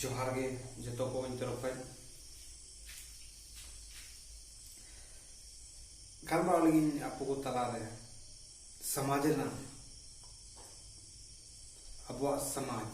ᱡᱚᱦᱟᱨ ᱜᱮ ᱡᱚᱛᱚ ᱠᱚ ᱤᱧ ᱛᱚᱨᱚᱯ ᱠᱷᱚᱱ ᱜᱟᱞᱢᱟᱨᱟᱣ ᱞᱟᱹᱜᱤᱫ ᱟᱯᱚ ᱠᱚ ᱛᱟᱞᱟᱨᱮ ᱥᱚᱢᱟᱡᱽ ᱨᱮᱱᱟᱜ ᱟᱵᱚᱣᱟᱜ ᱥᱚᱢᱟᱡᱽ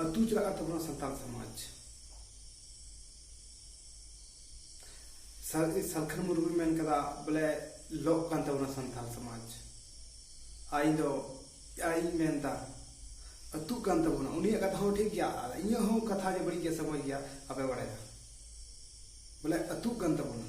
ᱟᱹᱛᱩ ᱪᱟᱞᱟᱜ ᱠᱟᱱ ᱛᱟᱵᱚᱱᱟ ᱥᱟᱱᱛᱟᱲ ᱥᱚᱢᱟᱡᱽ ᱥᱟᱞᱠᱷᱟᱱ ᱢᱩᱨᱢᱩ ᱢᱮᱱ ᱠᱟᱫᱟ ᱵᱚᱞᱮ ᱞᱚᱜ ᱠᱟᱱ ᱛᱟᱵᱚᱱᱟ ᱥᱟᱱᱛᱟᱲ ᱥᱚᱢᱟᱡᱽ ᱟᱭ ᱫᱚ ᱟᱭ ᱢᱮᱱ ᱫᱟ ᱟᱹᱛᱩ ᱠᱟᱱ ᱛᱟᱵᱚᱱᱟ ᱩᱱᱤᱭᱟᱜ ᱠᱟᱛᱷᱟ ᱦᱚᱸ ᱴᱷᱤᱠ ᱜᱮᱭᱟ ᱟᱨ ᱤᱧᱟᱹᱜ ᱦᱚᱸ ᱠᱟᱛᱷᱟ ᱡᱮ ᱵᱟᱹᱲᱤᱡ ᱜᱮᱭᱟ ᱥᱮ ᱢᱚᱡᱽ ᱜᱮᱭᱟ ᱟᱯᱮ ᱵᱟᱲᱟᱭᱟ ᱵᱚᱞᱮ ᱟᱹᱛᱩ ᱠᱟᱱ ᱛᱟᱵᱚᱱᱟ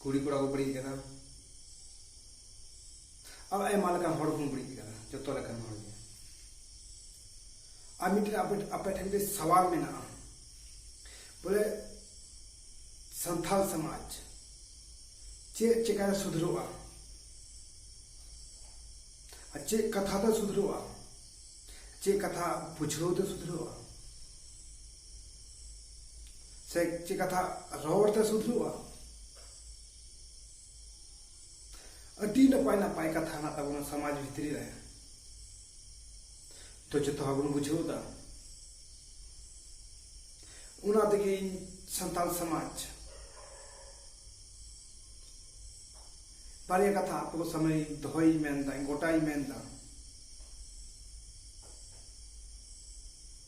ᱠᱩᱲᱤ ᱠᱚᱲᱟ ᱠᱚ ᱵᱟᱹᱲᱤᱡ ᱠᱟᱱᱟ ᱟᱨ ᱟᱭᱢᱟ ᱞᱮᱠᱟᱱ ᱦᱚᱲ ᱠᱚ ᱵᱟᱹᱲᱤᱡ ᱠᱟᱱᱟ ᱡᱚᱛᱚ ᱞᱮᱠᱟᱱ ᱦᱚᱲ ᱜᱮ ᱟᱨ ᱢᱤᱫᱴᱮᱱ ᱟᱯᱮ ᱟᱯᱮ ᱴᱷᱮᱱ ᱢᱤᱫᱴᱮᱱ ᱥᱟᱣᱟᱞ ᱢᱮᱱᱟᱜᱼᱟ ᱵᱚᱞᱮ ᱥᱟᱱᱛᱟᱲ ᱥᱚᱢᱟᱡᱽ ᱪᱮᱫ ᱪᱮᱠᱟᱨᱮ ᱥᱩᱫᱷᱨᱚᱜᱼᱟ ᱟᱨ ᱪᱮᱫ ᱠᱟᱛᱷᱟ ᱛᱮ ᱥᱩᱫᱷᱨᱚᱜᱼᱟ ᱪᱮᱫ ᱠᱟᱛᱷᱟ ᱵᱩᱡᱷᱟᱹᱣ ᱛᱮ ᱥᱩᱫᱷᱨᱚᱜᱼᱟ ᱥᱮ ᱪᱮᱫ ᱠᱟᱛᱷᱟ ᱨᱚᱲ ᱛᱮ ᱥᱩᱫᱷᱨᱩᱜᱼᱟ ᱟᱹᱰᱤ ᱱᱟᱯᱟᱭ ᱱᱟᱯᱟᱭ ᱠᱟᱛᱷᱟ ᱦᱮᱱᱟᱜ ᱛᱟᱵᱚᱱᱟ ᱥᱚᱢᱟᱡᱽ ᱵᱷᱤᱛᱨᱤ ᱨᱮ ᱛᱚ ᱡᱚᱛᱚ ᱦᱚᱲ ᱵᱚᱱ ᱵᱩᱡᱷᱟᱹᱣ ᱮᱫᱟ ᱚᱱᱟ ᱛᱮᱜᱮ ᱤᱧ ᱥᱟᱱᱛᱟᱲ ᱥᱚᱢᱟᱡᱽ ᱵᱟᱨᱭᱟ ᱠᱟᱛᱷᱟ ᱟᱯᱮ ᱠᱚ ᱥᱟᱢᱱᱮ ᱫᱚᱦᱚᱭ ᱢᱮᱱᱫᱟ ᱜᱚᱴᱟᱭ ᱢᱮᱱᱫᱟ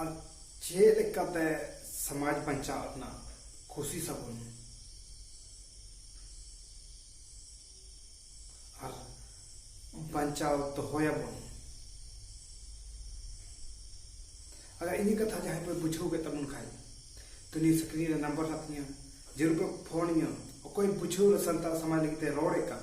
ᱟᱨ ᱪᱮᱫ ᱞᱮᱠᱟᱛᱮ ᱥᱚᱢᱟᱡᱽ ᱵᱟᱧᱪᱟᱣ ᱨᱮᱱᱟᱜ ᱠᱳᱥᱤᱥ ᱟᱵᱚᱱ ᱟᱨ ᱵᱟᱧᱪᱟᱣ ᱫᱚᱦᱚᱭᱟᱵᱚᱱ ᱟᱜᱟᱨ ᱤᱧ ᱠᱟᱛᱷᱟ ᱡᱟᱦᱟᱸᱭ ᱯᱮ ᱵᱩᱡᱷᱟᱹᱣ ᱠᱮᱫ ᱛᱟᱵᱚᱱ ᱠᱷᱟᱡ ᱛᱚ ᱱᱤᱭᱟᱹ ᱥᱠᱨᱤᱱ ᱨᱮ ᱱᱟᱢᱵᱟᱨ ᱦᱮᱱᱟᱜ ᱛᱤᱧᱟ ᱡᱟᱹᱨᱩᱲ ᱯᱮ ᱯᱷᱳᱱ ᱤᱧᱟ ᱚᱠᱚᱭ ᱵᱩᱡᱷᱟᱹᱣ ᱥᱟᱱᱛᱟᱲ ᱥᱚᱢᱟᱡᱽ ᱞᱟᱹᱜᱤᱫ ᱛᱮ ᱨᱚᱲᱮᱫ ᱠᱟᱱ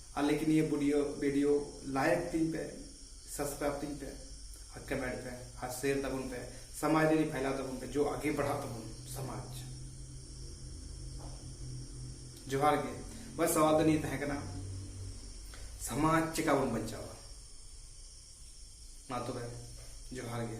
ᱟᱞᱮ ᱠᱤ ᱱᱤᱭᱟᱹ ᱵᱩᱰᱤᱭᱳ ᱵᱤᱰᱤᱭᱳ ᱞᱟᱭᱤᱠ ᱛᱤᱧ ᱯᱮ ᱥᱟᱵᱥᱠᱨᱟᱭᱤᱵ ᱛᱤᱧ ᱯᱮ ᱟᱨ ᱠᱚᱢᱮᱱᱴ ᱯᱮ ᱟᱨ ᱥᱮᱭᱟᱨ ᱛᱟᱵᱚᱱ ᱯᱮ ᱥᱚᱢᱟᱡᱽ ᱨᱮ ᱯᱷᱟᱭᱞᱟᱣ ᱛᱟᱵᱚᱱ ᱯᱮ ᱡᱚ ᱟᱜᱮ ᱵᱟᱲᱦᱟᱜ ᱛᱟᱵᱚᱱ ᱥᱚᱢᱟᱡᱽ ᱡᱚᱦᱟᱨ ᱜᱮ ᱵᱟᱥ ᱥᱟᱣᱟᱞ ᱫᱚ ᱱᱤᱭᱟᱹ ᱛᱟᱦᱮᱸ ᱠᱟᱱᱟ ᱥᱚᱢᱟᱡᱽ ᱪᱮᱠᱟ ᱵᱚᱱ ᱵᱟᱧᱪᱟᱣᱟ ᱢᱟ ᱛᱚᱵᱮ ᱡᱚᱦᱟᱨ ᱜᱮ